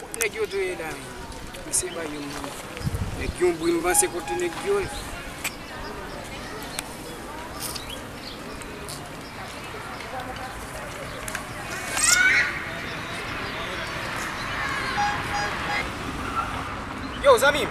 Kot neg yo dwe la menm. Mesye bay yon moun neg yon bri m panse kote neg yo ye. Yo zanmim.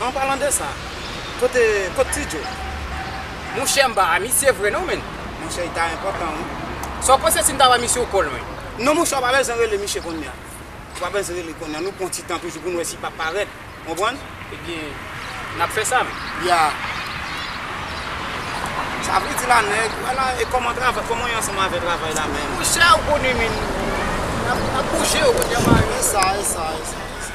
An palan de sa, kote kot ti djo? Monchè mpa a misye vre non menn. Monchè li ta enpòtan wi. Saw panse sim ta ba misye w kòl menm? Non monchè w pa bezwen rele misye konnya. Ou pa bezwen rele konnya nou pran ti tan toujou poun wè si pap parèt. Ou konprann? Ebyen nap fè sa menm. Ya. Sa vle di la nèg, wè la e kòman travay, kòman ye ansanm avè travay la menm? Monchè ou konnen menn nap bouje ou konn janm a yo. Esa esa esa esa.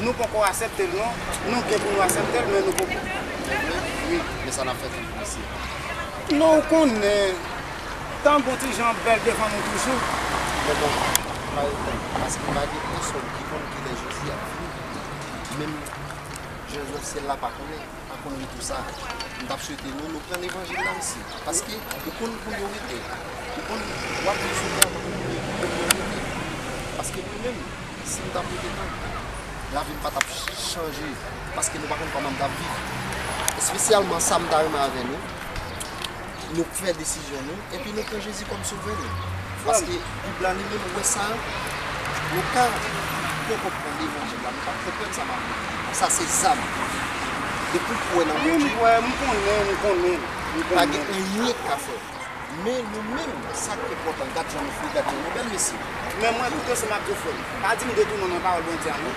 Nou poko aseptel non. Nou gen pou nou aseptel men nou poko. Mèvle ui men sa nap fè fanmi mesye. Non ou konnen. Tan gon ti jan bèl devan nou toujou. Men bon pare tèt ou paske pa gen pèsòn ki konn kilè Jezi ap vini. Menm Jèn Zòsyèl la pa konnen. Apre m di w sa, m t ap swete nou reprann levanjil la msi, paske ou konn koulye w rete, ou konn w ap viv sou tè a tankou premye kou premye w rete. Paske mwen menm, si m t ap rete tank, lavi m pa t ap chanje, paske nou pa konn kòman m t ap viv. Espesyalman sa m ta renmen avè nou. Nou k fè desizyon nou epi nou pran Jezi kòm sovè nou paske bib la li menm wè sa nou ka poko pran levanjil la nou pap konprann sa map di a sa se zam depiw kwè nan Bondye mwen kwè mwen konnen mwen konnen pa gen anyen k ka fèw men nou menm sak enpòtan gad jan nou fre gad jan nou bèl mesye men mwen tout osem ak ou frèm pa dim detounen nan pawòl Bondye a non.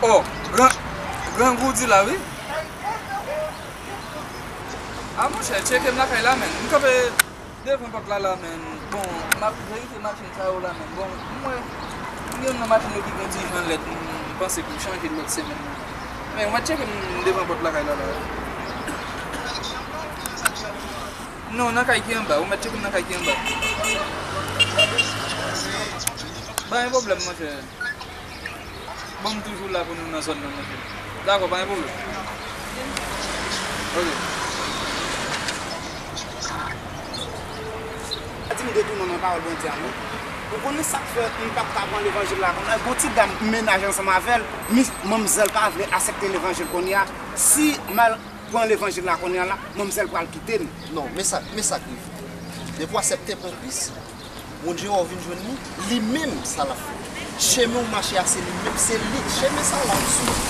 Oh grangou di la wi. A monchè tcheke m lakay la menn m kanpe. Devan pòt la la menm bon map verifye machin sa yo la menm bon m wè m gen youn nan machin yo ki gen ti jan lèd m panse pou m chanje l lòt semèn nan men wè tcheke m devan pòt lakay la la. Lakay ki anba ou byen sa ki anwo a? Non nan kay ki anba ou mèt tcheke m nan kay ki anba. Ok mèsi cheri. Pa gen pwoblèm monchè. Bon m toujou la pou nou nan zòn nan monte m. Dakò pa gen pwoblèm. Ok. Pa di m detounan nan pawòl Bondye a non. Ou konnen sa k fè m pa t ka pran levanjil la kounya? Gen yon ti dam m menaje ansanm avè l, manmzèl pa vle asepte levanjil kounya. Si m al pran levanjil la kounya la, manmzèl pral kite m. Non, men sa k rive. Depi w asepte pran Kris. Bondye wè w vin jwenn li, li menm sa lap fè. Chemen ou mache a se li menm, se li, chemen sa lap swiv.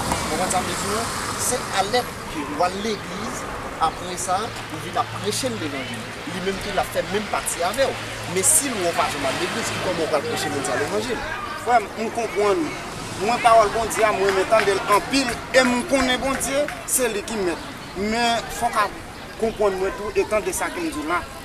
Ou konprann sa m vle di w la? Se alèt ke ou al legliz, apre sa ou vin ap preche l levanjil. Li menm tou lap fè menm pati avè w. Men si l wè w pa janm al legliz, ki kòman ou pral preche moun sa levanjil? Frè m, m konprann. Mwen pawòl Bondye a m renmen tande l anpil e m konnen Bondye se li ki mèt. Men fòk a konprann mwen tou e tande sa ke m di w la.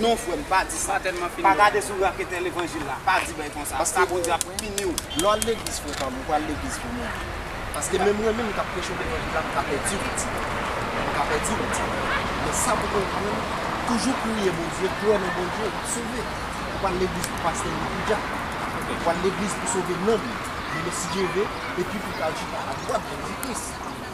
Non frèm pa di sa. Pa gade sou raketè levanjil la. Pa di bèy konsa. Paske Bondye ap piniw. Lè w al legliz frè pam ou pral legliz pou mouri. Paske menm mwen menm kap preche w levanjil la m ka pèdi w ti lè. M ka pèdi w ti lè. Men sa pou konprann toujou priye Bondye kwè nan Bondye wap sove. Ou pa al legliz pou pastè ni pou dyak. Ou al legliz pou sove nanm ou. Mene si Dye ve epi pou pral chita adwat Jezi Kris.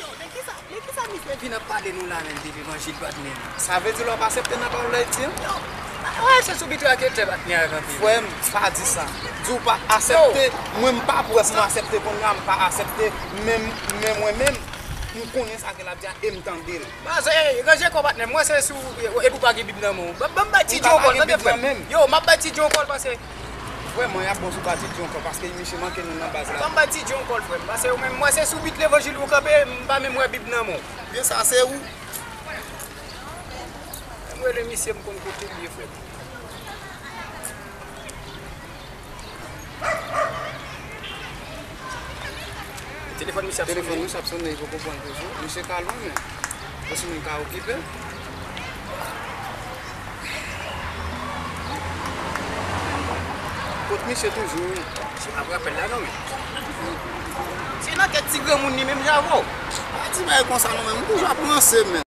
Yo, de kisa, de kisa misye vin ap pale nou la menm de levanjil patnè? Sa vle di lè wap asepte nan pawòl lay di an? Yo, pa ta rache sou bitou ake tè patnè ak anpil. Frè m, pa di sa. Di w pa asepte, mwen m pa pwès m asepte kounye a, m pa asepte men men mwen menm, m konnen sa ke lap di a e m tande l. Baz, ey, ranje kò w patnè, mwen se sou, epi w pa gen bib nan men w. Banm bay Ti Djo yon kòl, tande frè m. Yo, map bay Ti Djo yon kòl pase. Frèm mwen ap bon sou pati djonkò paske misye manke nou nan baz la. Banm pati djonkò l frèm pase ou menm mwen se sou bit levanjil ou kanpe m pa menm wè bib nan men w. Byen sa se ou. Fèm rele misye m konn kote l ye frèm. Telefòn misye ap sonnen li poko pranl toujou. Misye ka lwen men yo si moun ka okipe. Kot misye toujou wi. Misye pap rapèl la non men. Se nan tèt ti granmoun li menm javo. Pa di bagay konsa non men m toujou ap ranse men.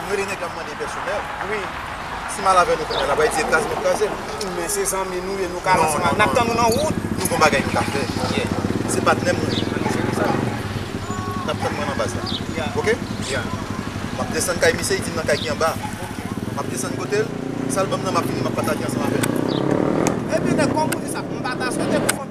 Ou rele nèg la mande yon pèsonèl. Wi. Si mal avè nou kounya lap bay dièt la se nou k kraze l. Men se zanmi nou ye nou ka ranse mal. Nap tann ou nan wout. Nou gon bagay nou ka fè. Yè. Se patnè m nou ye. Annou jere sa. Nap tann mwen nan baz la. Ya. Ok? Ya. Map desann kay misye, li di m nan kay ki anba a. Ok. Map desann kote l, sa l banm nan map vini map pataje ansanm avè l. Ebyen nèg kòm ou di sa, m pata swete pou fanm.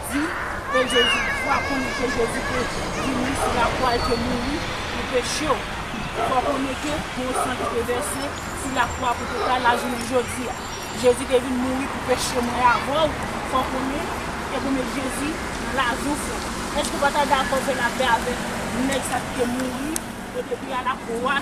di ke Jezi fwa konnen ke Jezi te vini sou la kwa e te mouri pou peche w. Fwa konnen ke gon san ki te vèse sou la kwa pou te ka la jounen jodi a. Jezi te vin mouri pou peche mwen avè w, fwa konnen e pou met Jezi nan lavi w. Eske w pa ta dakò fè lapè avèk nèg sa ki te mouri e te pi a la kwa?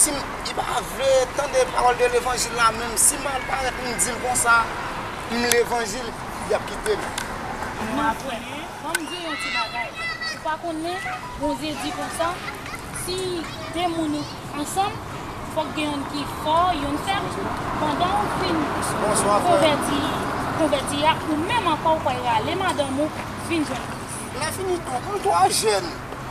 si m, li pa vle tande pawòl de levanjil la menm, si m al parèt pou m di l konsa, m levanjil, y ap kite m. M ap kwè. Ban m di w yon ti bagay, ou pa konnen, Bondye di konsa, si de moun ansanm, fòk gen youn ki fò, youn fèb, pandan ou fin konvèti, konvèti a, ou menm ankò ou pral rale madanm ou vin jwenn Kris. Lè fini tou, m twò jèn.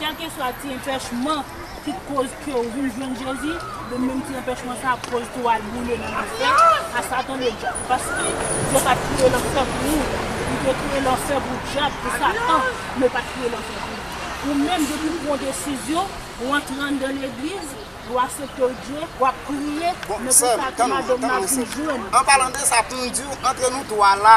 Kèlkeswa ti enpèchman ki t koz kew vin jwenn Jezi, de menm ti enpèchman sa ap koz tou wal boule nan lanfè a satan le dyab. Paske Bondye pat kreye lanfè pou ou, li te kreye lanfè pou dyab, pou satan, men l pat kreye lanfè pou ou. Ou menm depiw pran desizyon, ou antre anndan legliz, ou asepte Bndye, wap priye, men pou sa ti madanm nan vin jwenn. Anpalan de sa poum diw antre nou 3 la